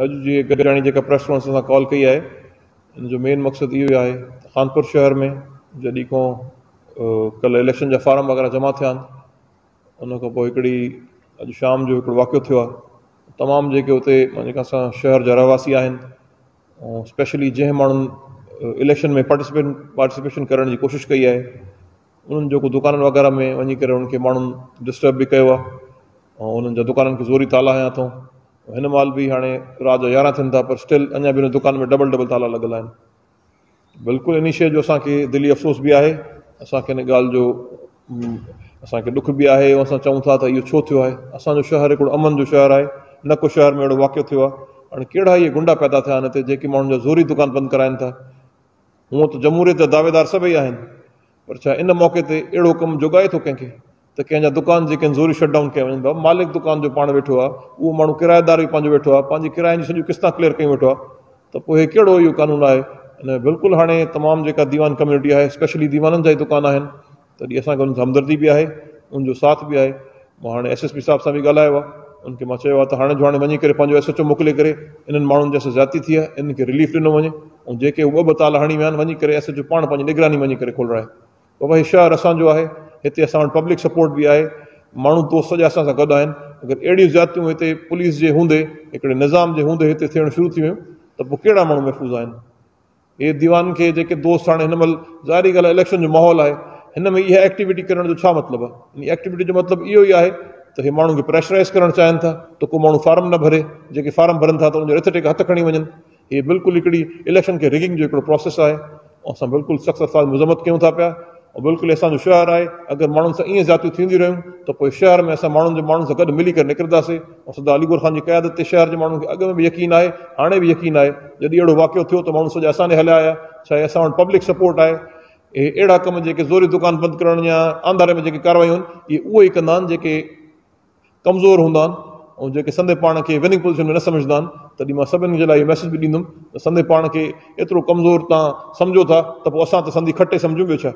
اڄ جي گڏجاڻي جيڪا پريس ڪانفرنس اسان ڪال ڪئي آهي ان جو مين مقصد اهو ئي آهي ته خانپور شهر ۾ جڏهن کان ڪلهه اليڪشن جا فارم وغيره جمع ٿيا آهن ان کان پوء هڪڙي اڄ شام جو هڪڙو واقعو ٿيو آهي تمام جيڪي اتي جيڪا اسان شهر جا رهواسي آهن ۽ اسپيشلي جنهن ماڻهن اليڪشن ۾ پارٽيسپيشن ڪرڻ جي ڪوشش ڪئي آهي انهن جيڪو دڪانن وغيره ۾ وڃي ڪري انهن کي ماڻهن ڊسٽرب به ڪيو آهي ۽ انهن جا دڪانن کي زوري تالا هنيا اٿئون هن مهل به هاڻي رات جا يارهن ٿين ٿا پر اسٽل اڃا به انهن دڪانن ۾ ڊبل ڊبل تالا لڳل آهن بلڪل انهي شيء جو اسان کي دلي افسوس به آهي اسان کي ان ڳالهه جو اسان کي ڏک به آهي ۽ اسان چئون ٿا ته اهو ڇو ٿيو آهي اسان جو شهر هڪڙو امن جو شهر آهي نه ڪو شهر ۾ اهڙو واقعو ٿيو آهي هاڻي ڪهڙا اهي گنڊا پيدا ٿيا آهن هتي جيڪي ماڻهن جا زوري دڪان بند ڪرائين ٿا هونء ته جمهوريت جا دعويدار سڀئي آهن پر ڇا ان موقعي تي اهڙو ڪم جوڳائي ٿو ڪنهن کي ته ڪنهن جا دڪان جي ڪن زوري شٽ ڊائون ڪيا وڃن ڀا مالڪ دڪان جو پاڻ ويٺو آهي اهو ماڻهو ڪرايدار به پنهنجو ويٺو آهي پنهنجي ڪراين جون سڄيون قسطان ڪليئر ڪيون ويٺو آهي ته پوء هي ڪهڙو اهو قانون آهي ان ۾ بلڪل هاڻي تمام جيڪا ديوان ڪميونٽي آهي اسپيشلي ديوانن جا ئي دڪان آهن تڏهن اسان کي انهن سان همدردي به آهي، انهن جو ساٿ به آهي. مون هاڻي ايس ايس پي صاحب سان به ڳالهايو آهي، انهن کي مان چيو آهي ته هاڻي جو هاڻي وڃي ڪري پنهنجو ايس ايڇ او موڪلي ڪري انهن ماڻهن جن سان زيادتي ٿي آهي انهن کي رليف ڏنو وڃي ۽ جيڪي هو ٻه ٻه تالا هڻي ويا آهن وڃي ڪري ايس ايڇ او پاڻ پنهنجي نگراني وڃي ڪري کولرائي. بابا هي شهر اسان جو آهي، هتي اسان وٽ پبلڪ سپورٽ به آهي، ماڻهو دوست سڄا اسان سان گڏ آهن، اگر اهڙيون زيادتيون هتي پوليس جي هوندي، هڪڙي نظام جي هوندي هتي ٿيڻ شروع ٿي ويون ته پوء ڪهڙا ماڻهو محفوظ آهن؟ اي ديوان کي جيڪي دوست هاڻي هن مهل ظاهري ڳالهه اليڪشن جو ماحول آهي هن ۾ اها ايڪٽيوٽي ڪرڻ جو ڇا مطلب آهي ان ايڪٽيوٽي جو مطلب اهو ئي آهي ته هي ماڻهن کي پريشرائز ڪرڻ چاهين ٿا ته ڪو ماڻهو فارم نه ڀري جيڪي فارم ڀرن ٿا ته ان جو رٿ ٽيڪ هٿ کڻي وڃن هي بلڪل هڪڙي اليڪشن کي رگنگ جو هڪڙو پروسيس آهي اسان بلڪل سخت الفاظ مذمت ڪيون ٿا پيا بلڪل احسان جو شهر آهي، اگر ماڻهن سان ائين زيادتيون ٿينديون رهيون ته پوء شهر ۾ اسان ماڻهن جو ماڻهن سان گڏ ملي ڪري نڪرنداسين ۽ سردار علي گوهر خان جي قيادت تي شهر جي ماڻهن کي اڳ ۾ به يقين آهي هاڻي به يقين آهي جڏهن اهڙو واقعو ٿيو ته ماڻهن سوچيا اسان ني هليا آيا ڇا اهي اسان وٽ پبلڪ سپورٽ آهي اهي اهڙا ڪم جيڪي زوري دڪان بند ڪرڻ يا آنڌاري ۾ جيڪي ڪاروايون آهن اهي اهو ئي ڪندا آهن جيڪي ڪمزور هوندا آهن ۽ جيڪي سندي پاڻ کي وننگ پوزيشن ۾ نه سمجهندا آهن تڏهن مان سڀني جي لاء اهو ميسيج به ڏيندم ته سندي پاڻ کي ايترو ڪمزور توهان سمجهو ٿا ته پوء اسان ته سندي کٽي سمجهون ٻيو ڇا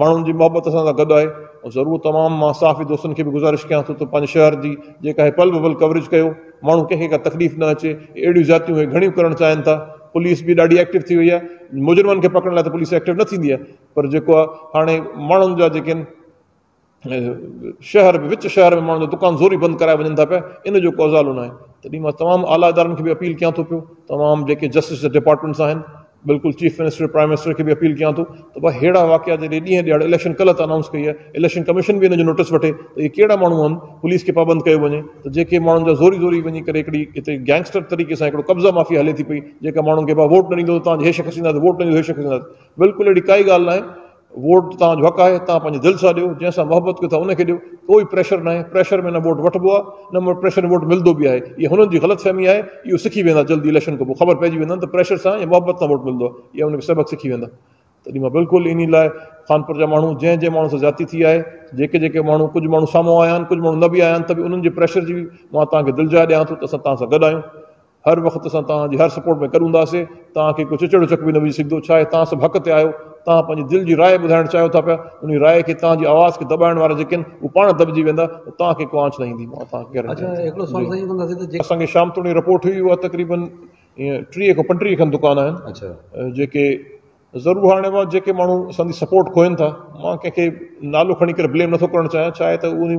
ماڻهن جي محبت اسان سان گڏ آهي ۽ ضرور تمام مان صحافي دوستن کي به گذارش ڪيان ٿو ته پنهنجي شهر جي جيڪا هي پل به پل ڪوريج ڪيو ماڻهو ڪنهن کي ڪا تڪليف نه اچي اهڙيون زيادتيون هي گهڻيون ڪرڻ چاهين ٿا پوليس به ڏاڍي ايڪٽو ٿي وئي آهي مجرمن کي پڪڙڻ لاء ته پوليس ايڪٽو نه ٿيندي آهي پر جيڪو آهي هاڻي ماڻهن جا جيڪي آهن شهر ۾ وچ شهر ۾ ماڻهن جا دڪان زوري بند ڪرايا وڃن ٿا پيا ان جو ڪو ازالو ناهي تڏهن مان تمام اعليٰ ادارن کي به اپيل ڪيان ٿو پيو تمام جيڪي جسٽس جا ڊپارٽمينٽس آهن بلڪل چيف منسٽر پرائم منسٽر کي به اپيل ڪيان ٿو ته بھا ههڙا واقعا جڏهن ڏينهن ڏياڙ اليڪشن ڪلهه ته اناؤنس ڪئي آهي اليڪشن ڪميشن به ان جو نوٽس وٺي ته اهي ڪهڙا ماڻهو آهن پوليس کي پابند ڪيو وڃي ته جيڪي ماڻهن جا زوري زوري وڃي ڪري هڪڙي هتي گينگسٽر طريقي سان هڪڙو قبضا مافيا هلي ٿي پئي جيڪا ماڻهن کي بابا ووٽ نه ڏيندو تان هي شخص ڏينداسي ووٽ نه ڏيندو هي شخص ڏينداسي بلڪل اهڙي ڪائي ڳالهه ناهي ووٽ توهان جو حق آهي، توهان پنهنجي دل سان ڏيو، جنهن سان محبت ڪيو ٿا ان کي ڏيو، ڪوئي پريشر ناهي، پريشر ۾ نه ووٽ وٺبو آهي نه پريشر ۾ ووٽ ملدو به آهي، اها هنن جي غلط فهمي آهي، اهو سکي ويندا جلدي اليڪشن کان پوء خبر پئجي ويندن ته پريشر سان يا محبت سان ووٽ ملدو آهي، اها ان کي سبق سکي ويندا. تڏهن مان بلڪل انهي لاء خانپور جا ماڻهو جنهن جنهن ماڻهو سان زيادتي ٿي آهي، جيڪي جيڪي ماڻهو ڪجهه ماڻهو سامهون آيا آهن ڪجهه ماڻهو نه به آيا آهن ته به انهن جي پريشر جي مان توهان کي دلجاء ڏيان ٿو ته اسان توهان سان گڏ آهيون، هر وقت اسان توهان جي هر سپورٽ ۾ گڏ هونداسين توهان کي ڪو چچڙو چڪ به نه وجهي سگهندو ڇاهي توهان سڀ حق تي آهيو توهان پنهنجي دل جي راء ٻڌائڻ چاهيو ٿا پيا انهي راء کي توهان جي آواز کي دٻائڻ وارا جيڪي آهن اهي پاڻ دٻجي ويندا ۽ توهان کي ڪو آنڇ نه ايندي مان توهان کي گيرنٽي ڏيان ٿي اسان کي شام توڻي رپورٽ هئي اها تقريبن ٽيهه کان پنٽيهه کن دڪان آهن جيڪي ضرور هاڻي اهي جيڪي ماڻهو اسان جي سپورٽ کوهين ٿا مان ڪنهن کي نالو کڻي ڪري بليم نٿو ڪرڻ چاهيان ڇا آهي ته انهي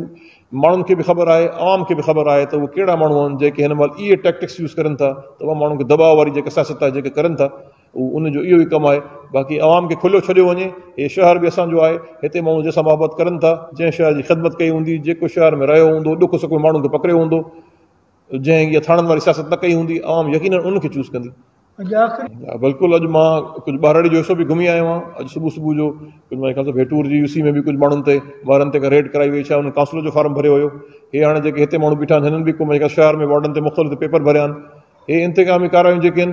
ماڻهن کي به خبر آهي عوام کي به خبر آهي ته اهي ڪهڙا ماڻهو آهن جيڪي هن مهل اهي ٽيڪٽڪس يوز ڪرين ٿا ته اهي ماڻهن کي دٻاء واري جيڪا سياست آهي جيڪا ڪرين ٿا اهو ان جو اهو ئي ڪم آهي باقي عوام کي کليو ڇڏيو وڃي هي شهر به اسان جو آهي هتي ماڻهو جنهن سان محبت ڪرين ٿا جنهن شهر جي خدمت ڪئي هوندي جيڪو شهر ۾ رهيو هوندو ڏک سک ۾ ماڻهن کي پڪڙيو هوندو جنهن اها ٿاڻن واري سياست نه ڪئي هوندي، عوام يقينن ان کي چوز ڪندي. اڄ آخري. ها بلڪل اڄ مان ڪجهه ٻهراڙي جو حصو به گهمي آيو آهيان اڄ صبح صبح جو ڪجهه مانهي خيال ڀيٽور جي يو سي ۾ به ڪجهه ماڻهن تي وارن تي ڪا ريڊ ڪرائي وئي ڇا انهن ڪانسلر جو فارم ڀريو هيو هي هاڻي جيڪي هتي ماڻهو بيٺا آهن هنن به ڪو مانهي شهر ۾ وارڊن تي مختلف هتي پيپر ڀريا آهن هي انتقامي ڪاروايون جيڪي آهن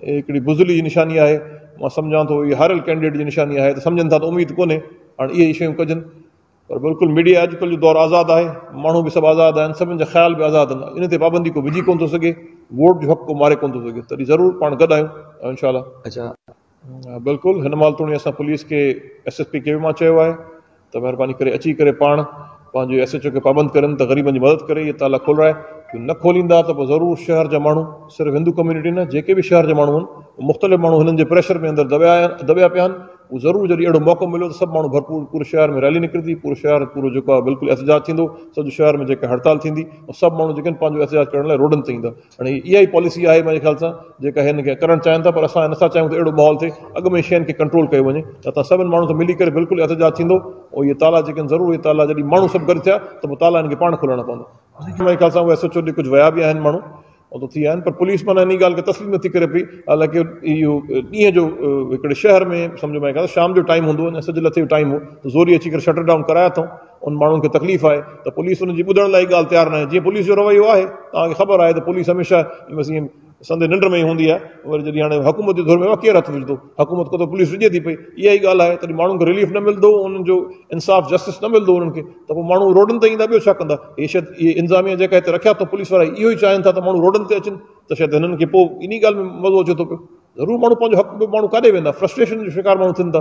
هي هڪڙي بزدلي جي نشاني آهي مان سمجهان ٿو هي هاريل ڪينڊيڊيٽ جي نشاني آهي ته سمجهن ٿا ته اميد ڪونهي هاڻي اهي ئي شيون ڪجن پر بلڪل ميڊيا اڄ ڪلهه جو دور آزاد آهي، ماڻهو به سڀ آزاد آهن، سڀن جا خيال به آزاد آهن، ان تي پابندي ڪو وجهي ڪونه ٿو سگهي، ووٽ جو حق ڪو ماري ڪونه ٿو سگهي، تڏهن ضرور پاڻ گڏ آهيون ۽ انشاء الله. بلڪل هن مال توڻي اسان پوليس کي ايس ايس پي کي به مان چيو آهي ته مهرباني ڪري اچي ڪري پاڻ پنهنجي ايس ايچ او کي پابند ڪرين ته غريبن جي مدد ڪري اهي تالا کولرائي جو نه کوليندا ته پوء ضرور شهر جا ماڻهو صرف هندو ڪميونٽي نه جيڪي به شهر جا ماڻهو آهن مختلف ماڻهو هنن جي پريشر ۾ اندر دٻيا دٻيا پيا آهن اهو ضرور جڏهن اهڙو موقعو مليو ته سڀ ماڻهو ڀرپور پوري شهر ۾ ريلي نڪرندي پورو شهر پورو جيڪو آهي بلڪل احتجاج ٿيندو سڄو شهر ۾ جيڪا هڙتال ٿيندي ۽ سڀ ماڻهو جيڪي آهن پنهنجو احتجاج ڪرڻ لاء روڊن تي ايندا هاڻي هي اها ئي پاليسي آهي منهنجي خيال سان جيڪا هن کي ڪرڻ چاهين ٿا پر اسان نٿا چاهيون ته اهڙو ماحول ٿئي اڳ ۾ شين کي ڪنٽرول ڪيو وڃي ته اتان سڀن ماڻهن سان ملي ڪري بلڪل احتجاج ٿيندو ۽ اهي تالا جيڪي آهن ضرور اهي تالا جڏهن ماڻهو سڀ گڏ ٿيا ته پوء تالا هن کي پاڻ کولڻا پوندا منهنجي خيال سان اهو ايس ايچ او ڏي ڪجهه ويا به آهن ماڻهو او ته ٿي آهن پر پوليس معنيٰ انهي ڳالهه کي تسليم نٿي ڪري پئي حالانڪه اهو ڏينهن جو هڪڙي شهر ۾ سمجهه ۾ آهي شام جو ٽائيم هوندو آهي سج لٿي جو ٽائيم هو ته زوري اچي ڪري شٽر ڊائون ڪرائي اٿئون ان ماڻهن کي تڪليف آهي ته پوليس ان جي ٻڌڻ لاء ڳالهه تيار ناهي جيئن پوليس جو رويو آهي توهان کي خبر آهي ته پوليس هميشه بس ائين سندي ننڊ ۾ ئي هوندي آهي وري جڏهن هاڻي حڪومت جي ڌر ۾ ڪير هٿ وجھندو حڪومت کي ته پوليس وجھي ٿي پئي اها ئي ڳالهه آهي تڏهن ماڻهن کي رليف نه ملندو انهن جو انصاف جسٽس نه ملندو انهن کي ته پوء ماڻهو روڊن تي ايندا ٻيو ڇا ڪندا؟ هي شايد اهي انظاميه جيڪا هتي رکيا اٿئون پوليس وارا اهو ئي چاهين ٿا ته ماڻهو روڊن تي اچن ته شايد هنن کي پوء انهي ڳالهه ۾ مزو اچي ٿو پيو. ضرور ماڻهو پنهنجو حق ٻيو ماڻهو ڪاڏي ويندا فرسٽريشن جو شڪار ماڻهو ٿين ٿا.